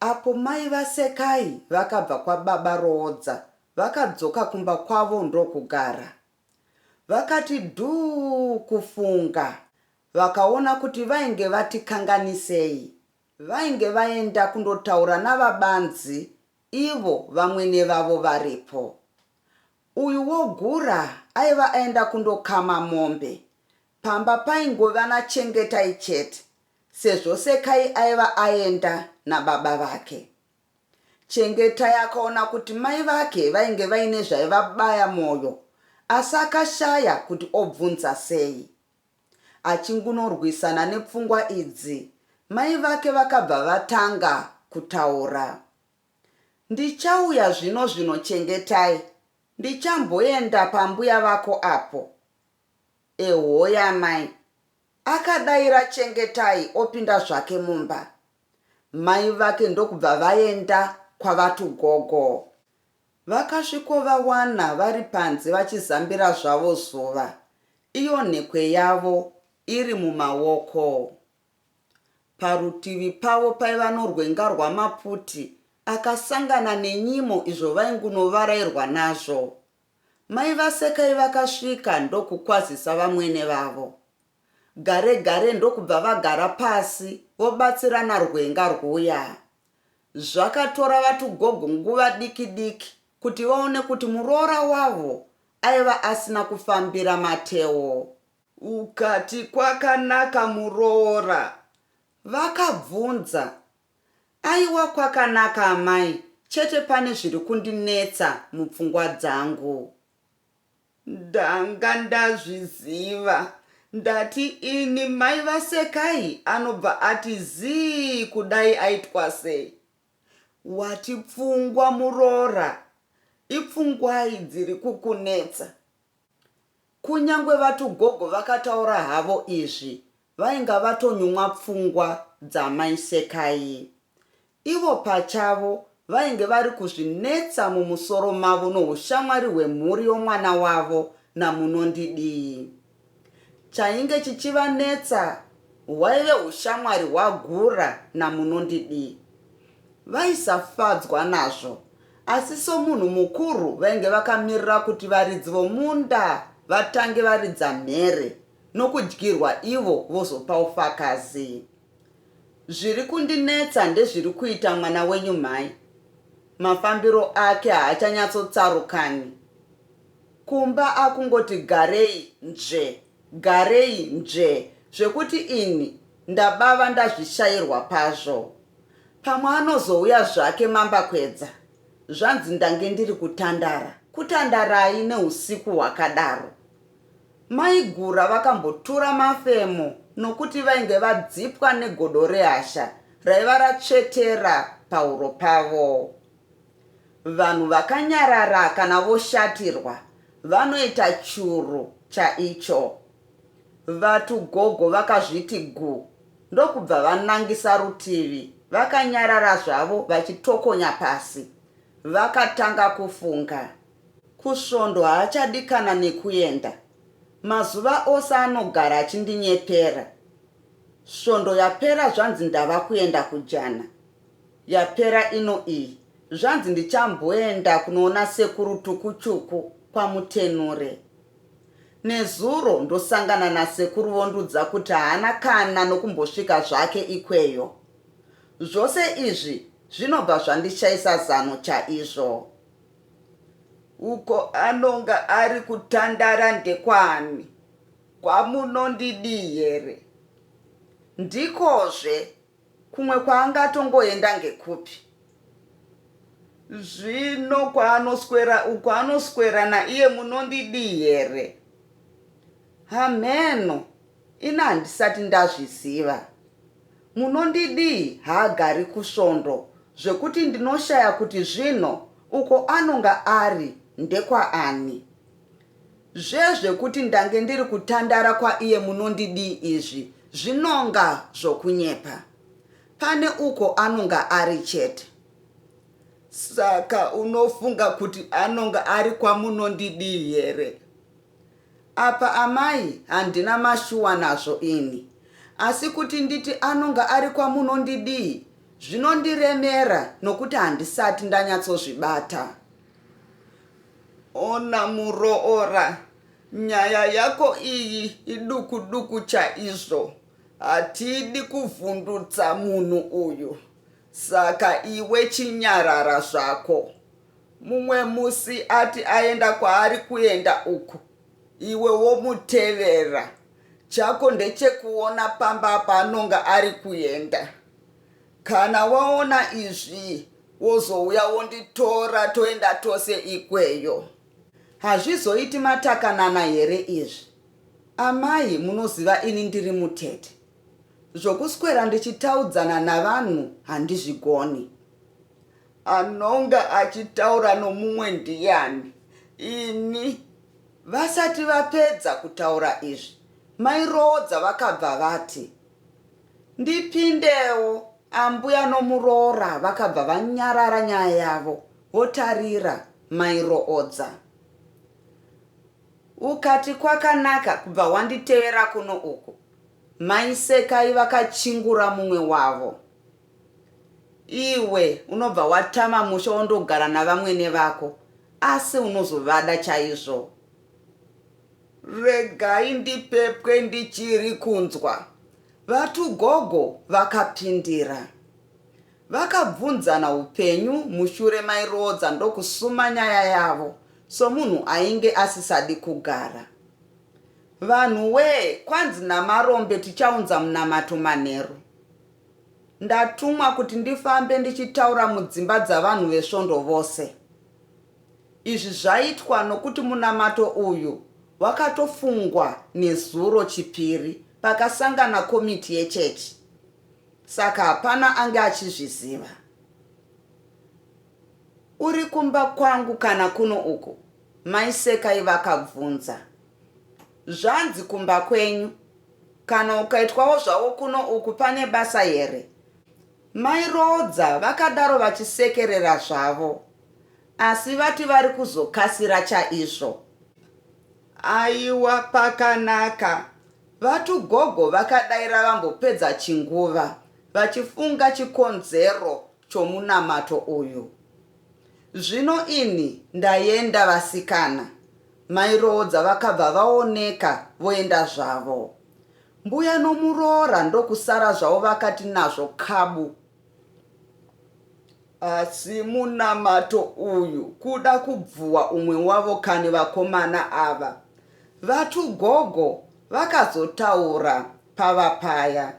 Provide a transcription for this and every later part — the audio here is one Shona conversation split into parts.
Apo mai vaSekai vakabva kwababa Roodza vakadzoka kumba kwavo ndokugara. Vakati dhuu kufunga vakaona kuti vainge vatikanganisei. Vainge vaenda kundotaura naVaBanzi ivo vamwene vavo varipo. Uyu wogura aiva aenda kundokama mombe. Pamba paingove naChengetai chete Sezvo Sekai aiva aenda nababa vake, Chengetai akaona kuti mai vake vainge vaine zvaivabaya moyo asi akashaya kuti obvunza sei. Achingunorwisana nepfungwa idzi, mai vake vakabva vatanga kutaura. Ndichauya zvino zvino Chengetai, ndichamboenda pambuya vako apo. Ehoya mai, Akadaira Chengetai opinda zvake mumba. Mai vake ndokubva vaenda kwavatu gogo. Vakasvikovawana vari panze vachizambira zvavo zuva iyo nhekwe yavo iri mumaoko. Parutivi pavo paiva norwenga rwamaputi akasangana nenyimo izvo vaingunovarairwa nazvo. Mai vaSekai vakasvika ndokukwazisa vamwene vavo gare gare ndokubva vagara pasi vobatsirana rwenga rwuyaa. Zvakatora vatugogo nguva diki diki kuti vaone kuti muroora wavo aiva asina kufambira matewo. Ukati kwakanaka muroora? Vakabvunza Aiwa kwakanaka amai chete pane zviri kundinetsa mupfungwa dzangu. Ndanga ndazviziva ndati ini mai vaSekai anobva ati zii kudai aitwa sei. Wati pfungwa muroora ipfungwai dziri kukunetsa. Kunyangwe vatugogo vakataura havo izvi Vainga vatonyumwa pfungwa dzamai Sekai. Ivo pachavo vainge vari kuzvinetsa mumusoro mavo noushamwari hwemhuri yomwana wavo naMunondidii. Chainge chichivanetsa hwaive ushamwari hwaGura naMunondidii. Vaisafadzwa nazvo asi somunhu mukuru vainge vakamirira kuti varidzi vomunda vatange varidza mhere nokudyirwa ivo vozopa ufakazi. Zviri kundinetsa ndezviri kuita mwana wenyu mhai. Mafambiro ake haachanyatsotsarukanwi. Kumba akungoti garei nzve, garei nzve zvekuti ini ndabava ndazvishairwa pazvo. Pamwe anozouya zvake mambakwedza zvanzi ndange ndiri kutandara. Kutandarai neusiku hwakadaro? Mai Gura vakambotura mafemo nokuti vainge vadzipwa negodo rehasha raiva ratsvetera pahuro pavo. Vanhu vakanyarara kana voshatirwa vanoita churu chaicho. Vatu gogo vakazviti gu ndokubva vanangisa rutivi vakanyarara zvavo vachitokonya pasi. Vakatanga kufunga. Kusvondo haachadi kana nekuenda. Mazuva ose anogara achindinyepera. Svondo yapera zvanzi ndava kuenda kujana. Yapera ino iyi zvanzi ndichamboenda kunoona sekuru Tukuchuku kwaMutenure. Nezuro ndosangana nasekuru vondiudza kuti haana kana nokumbosvika zvake ikweyo. Zvose izvi zvinobva zvandishaisa zano chaizvo. Uko anonga ari kutandara ndekwani? Kwamunondidii here? Ndikozve, kumwe kwaangatongoenda ngekupi? Zvino kwaanoswera uko anoswera naiye munondidii here? Hamheno, Ini handisati ndazviziva. Munondidii haagari kusvondo zvekuti ndinoshaya kuti zvino uko anonga ari ndekwaani. Zve zvekuti ndange ndiri kutandara kwaiye munondidii izvi zvinonga zvokunyepa. Pane uko anonga ari chete. Saka unofunga kuti anonga ari kwamunondidii here? Apa amai handina mashuwa nazvo ini asi kuti nditi anonga ari kwaMunondidii zvinondiremera nokuti handisati ndanyatsozvibata. Ona muroora, nyaya yako iyi iduku duku chaizvo, hatidi kuvhundutsa munhu uyu saka iwe chinyarara zvako. Mumwe musi ati aenda kwaari kuenda uku iwe womutevera. Chako ndechekuona pamba paanonga ari kuenda. Kana waona izvi wozouya wonditora toenda tose ikweyo. Hazvizoiti matakanana here izvi? Amai munoziva ini ndiri mutete. Zvokuswera ndichitaudzana navanhu handizvigoni. Anonga achitaura nomumwe ndiyani? Ini. Vasati vapedza kutaura izvi, mai Roodza vakabva vati, Ndipindewo. Ambuya nomuroora vakabva vanyarara nyaya yavo votarira mai Roodza. Ukati kwakanaka kubva wanditevera kuno uku, mai Sekai vakachingura mumwe wavo. Iwe unobva watama musha wondogara navamwene vako asi unozovada chaizvo. Regai ndipepwe ndichiri kunzwa. VaTugogo vakapindira. Vakabvunzana upenyu mushure mairoodza ndokusuma nyaya yavo somunhu ainge asisadi kugara. Vanhuwee kwanzi naMarombe tichaunza munamato manheru. Ndatumwa kuti ndifambe ndichitaura mudzimba dzavanhu veSvondo vose. Izvi zvaitwa nokuti munamato uyu wakatofungwa nezuro, Chipiri, pakasangana komiti yechechi, saka hapana ange achizviziva. Uri kumba kwangu kana kuno uku? Mai Sekai vakabvunza. Zvanzi kumba kwenyu kana ukaitwawo zvawo kuno uku pane basa here? Mai Roodza vakadaro vachisekerera zvavo asi vati vari kuzokasira chaizvo. Aiwa pakanaka, vatu gogo vakadaira vambopedza chinguva vachifunga chikonzero chomunamato uyu. Zvino ini ndayenda vasikana mai Roodza vakabva vaoneka voenda zvavo. Mbuya nomuroora ndokusara zvavo vakati nazvo kabu. Asi munamato uyu kuda kubvuwa umwe wavo kani vakomana ava. Vatu gogo vakazotaura pava paya.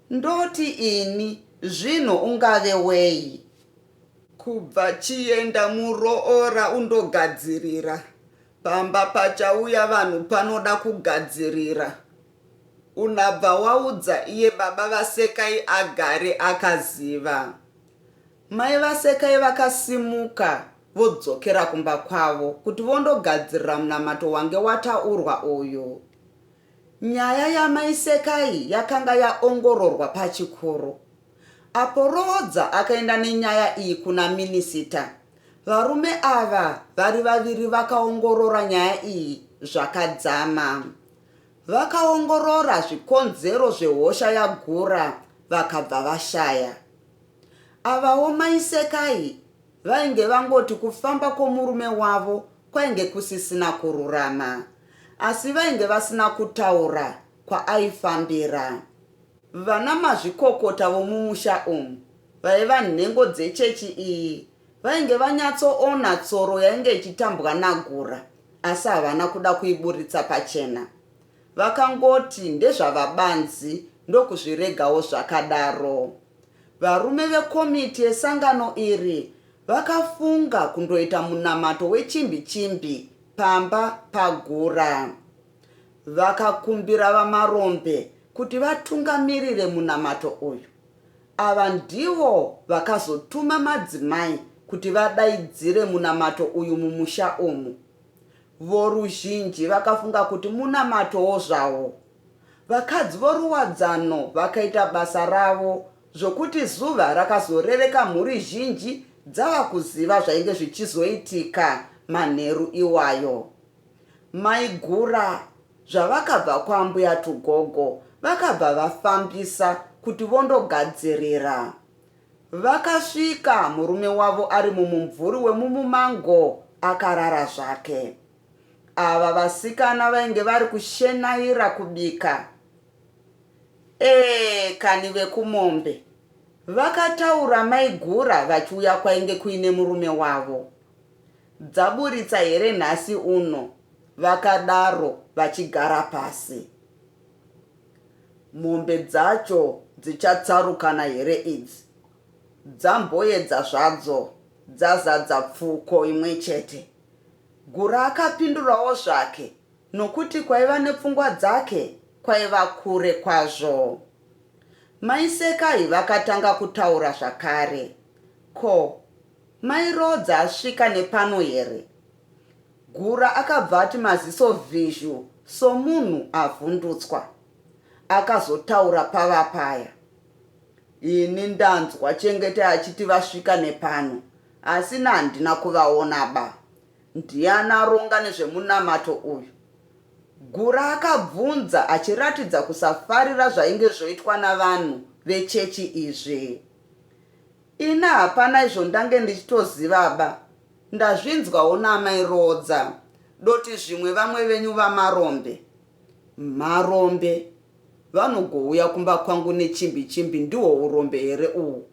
Ndoti ini, Zvino ungave wei? Kubva chienda muroora undogadzirira. Pamba pachauya vanhu panoda kugadzirira. Unabva waudza iye baba vaSekai agare akaziva. Mai vaSekai vakasimuka vodzokera kumba kwavo kuti vondogadzirira munamato wange wataurwa uyu. Nyaya yaMai Sekai yakanga yaongororwa pachikoro. Apo Roodza akaenda nenyaya iyi kuna minisita, varume ava vari vaviri vakaongorora nyaya iyi zvakadzama. Vakaongorora zvikonzero zvehosha yaGura vakabva vashaya. Avawo Mai Sekai vainge vangoti kufamba kwomurume wavo kwainge kusisina kururama. asi vainge vasina kutaura kwaaifambira. Vana mazvikokota vomumusha umu vaiva nhengo dzechechi iyi vainge vanyatsoona tsoro yainge ichitambwa naGura asi havana kuda kuiburitsa pachena. Vakangoti ndezvavabanzi ndokuzviregawo zvakadaro. Varume vekomiti yesangano iri vakafunga kundoita munamato wechimbi chimbi pamba paGura. Vakakumbira VaMarombe kuti vatungamirire munamato uyu. Ava ndivo vakazotuma madzimai kuti vadaidzire munamato uyu mumusha umu. Voruzhinji vakafunga kuti munamatowo zvawo. Vakadzi voRuwadzano vakaita basa ravo zvokuti zuva rakazorereka mhuri zhinji dzava kuziva zvainge zvichizoitika manheru iwayo. Maigura zvavakabva kwaambuya Tugogo vakabva vafambisa kuti vondogadzirira. Vakasvika murume wavo ari mumumvuri wemumumango akarara zvake. Ava vasikana vainge vari kushenaira kubika Eeh kani vekumombe. Vakataura maigura vachiuya kwainge kuine murume wavo. Dzaburitsa here nhasi uno vakadaro vachigara pasi. Mombe dzacho dzichatsarukana here idzi. Dzamboedza zvadzo dzazadza pfuko imwechete. Gura akapindurawo zvake Nokuti kwaiva nepfungwa dzake kwaiva kure kwazvo. Mai Sekai vakatanga kutaura zvakare. Ko, mai Roodza asvika nepano here? Gura akabva ati maziso vhizhu somunhu avhundutswa. Akazotaura pava paya. Ini ndanzwa Chengete achiti vasvika nepano, asi handina kuvaona ba. Ndiani aronga nezvemunamato uyu? Gura akabvunza achiratidza kusafarira zvainge zvoitwa navanhu vechechi izvi. Ini hapana izvo ndange ndichitozivaba, ndazvinzwawo naamai Roodza, doti zvimwe vamwe venyu vaMarombe. Marombe? Vanogouya kumba kwangu nechimbi chimbi ndihwo urombe here uhwu?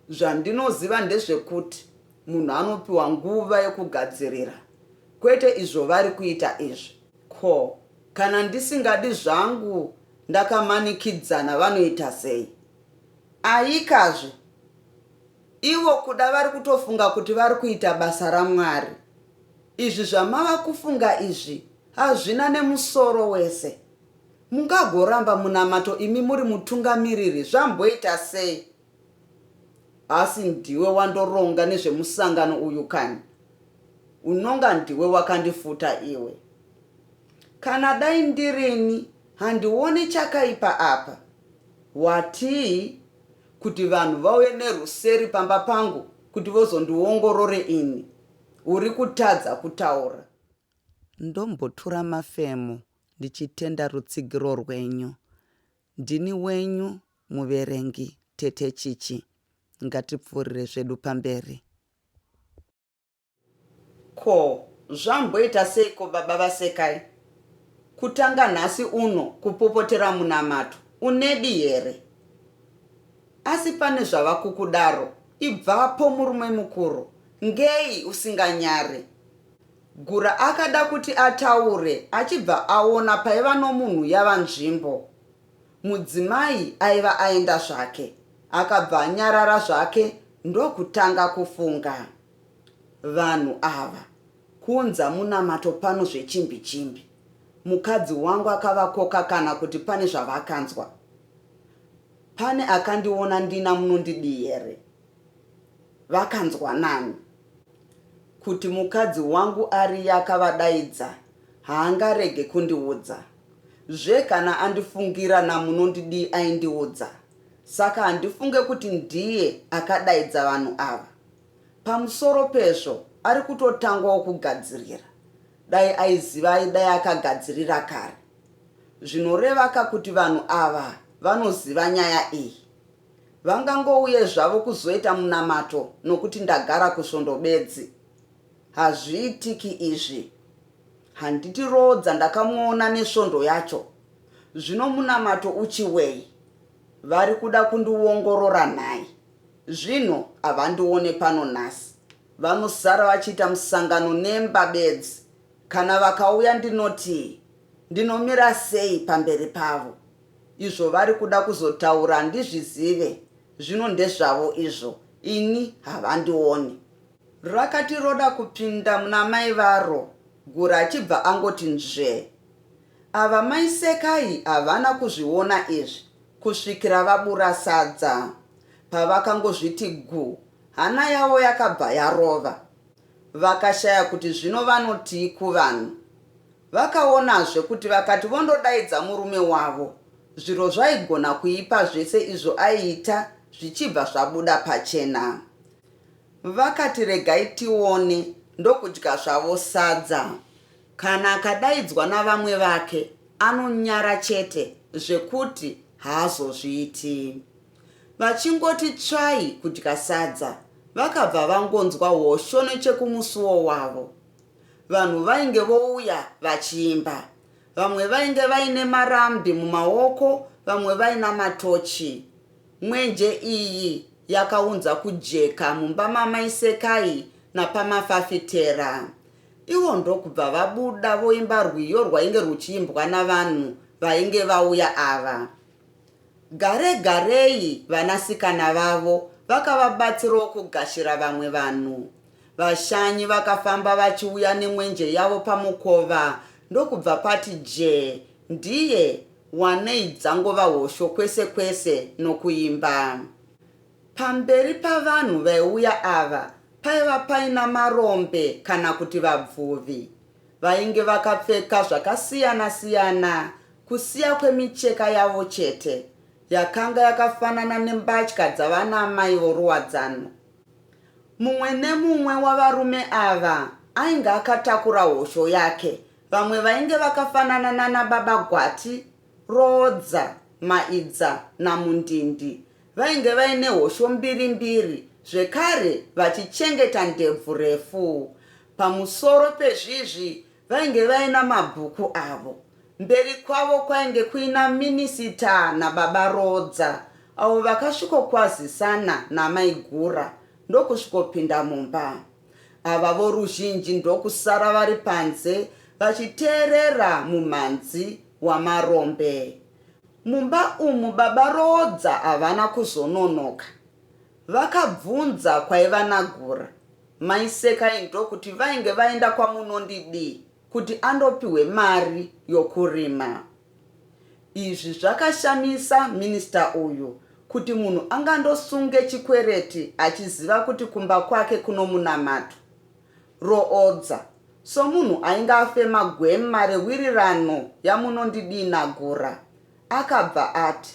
Zvandinoziva ndezvekuti Munhu anopiwa nguva yekugadzirira kwete izvo vari kuita izvi. Ko kana ndisingadi zvangu ndakamanikidzana vanoita sei? Ayikazve ivo kuda vari kutofunga kuti vari kuita basa raMwari. Izvi zvamava kufunga izvi hazvina nemusoro wese. Mungagoramba munamato imi muri mutungamiriri zvamboita sei? Asi ndiwe wandoronga nezvemusangano uyu kani? Unonga ndiwe wakandifuta iwe. Kana dai ndirini handione chakaipa apa. Watii? Kuti vanhu vauye neruseri pamba pangu kuti vozondiongorore ini? Uri kutadza kutaura. Ndombotura mafemo ndichitenda rutsigiro rwenyu. Ndini wenyu muverengi tete Chichi ngatipfuurire zvedu pamberi. Ko zvamboita seiko baba vaSekai kutanga nhasi uno kupopotera munamato unedi here asi pane zvavakukudaro ibvapo murume mukuru ngei usinganyare Gura akada kuti ataure achibva aona paiva nomunhu yava nzvimbo Mudzimai aiva aenda zvake akabva anyarara zvake ndokutanga kufunga. Vanhu ava kuunza munamato pano zvechimbi chimbi. Mukadzi wangu akavakoka kana kuti pane zvavakanzwa. Pane akandiona ndina munondidii here? Vakanzwa nani? Kuti mukadzi wangu ariye akavadaidza haangarege kundiudza. Zve kana andifungira naMunondidii aindiudza. Saka handifunge kuti ndiye akadaidza vanhu ava. Pamusoro pezvo ari kutotangwawo kugadzirira. Dai aiziva aidai akagadzirira kare. Zvinorevaka kuti vanhu ava vanoziva nyaya iyi. Vangangouye zvavo kuzoita munamato nokuti ndagara kusvondo bedzi. Hazviitiki izvi. Handiti Roodza ndakamuona nesvondo yacho? Zvino munamato uchiwei? Vari kuda kundiongorora nhai? Zvinhu havandione pano nhasi. Vanosara vachiita musangano nemba bedzi. Kana vakauya ndinotii? Ndinomira sei pamberi pavo? Izvo vari kuda kuzotaura handizvizive. Zvino ndezvavo izvo. Ini havandione. Rakati roda kupinda muna mai varo Gura achibva angoti nzvee. Ava mai Sekai havana kuzviona izvi kusvikira vabura sadza. Pavakangozviti gu hana yavo yakabva yarova. Vakashaya kuti zvino vanotii kuvanhu. Vakaonazve kuti vakati vondodaidza murume wavo zviro zvaigona kuipa zvese izvo aiita zvichibva zvabuda pachena. Vakati regai tione ndokudya zvavo sadza. Kana akadaidzwa navamwe vake anonyara chete zvekuti haazozviiti. Vachingoti tsvai kudya sadza vakabva vangonzwa hosho nechekumusuwo wavo. Vanhu vainge vouya vachiimba. Vamwe vainge vaine marambi mumaoko vamwe vaina matochi. Mwenje iyi yakaunza kujeka mumba mamai Sekai napamafafitera ivo ndokubva vabuda voimba rwiyo rwainge rwuchiimbwa navanhu vainge vauya ava. Gare garei vanasikana vavo vakavabatsirawo kugashira vamwe vanhu. Vashanyi vakafamba vachiuya nemwenje yavo pamukova ndokubva pati jee ndiye wanei dzangova hosho kwese kwese nokuimba. Pamberi pavanhu vaiuya ava paiva paina marombe kana kuti vabvuvi. Vainge vakapfeka zvakasiyana siyana kusiya kwemicheka yavo chete yakanga yakafanana nembatya dzavana amai voruwadzano. Mumwe nemumwe wavarume ava ainge akatakura hosho yake Vamwe vainge vakafanana nana baba Gwati, Roodza, Maidza naMundindi vainge vaine hosho mbiri mbiri zvekare vachichengeta ndebvu refu. Pamusoro pezvizvi vainge vaina mabhuku avo. Mberi kwavo kwainge kuina Minisita nababa Roodza avo vakasvikokwazisana naMai Gura ndokusvikopinda mumba. ava voruzhinji ndokusara vari panze vachiteerera mumhanzi waMarombe. Mumba umu baba Roodza havana kuzononoka. Vakabvunza kwaiva naGura, mai Sekai ndokuti vainge vaenda kwaMunondidii kuti andopihwe mari yokurima. Izvi zvakashamisa minister uyu kuti munhu angandosunge chikwereti achiziva kuti kumba kwake kunomunamatwa. Roodza, somunhu ainge afema gwema rewirirano yaMunondidii naGora, akabva ati.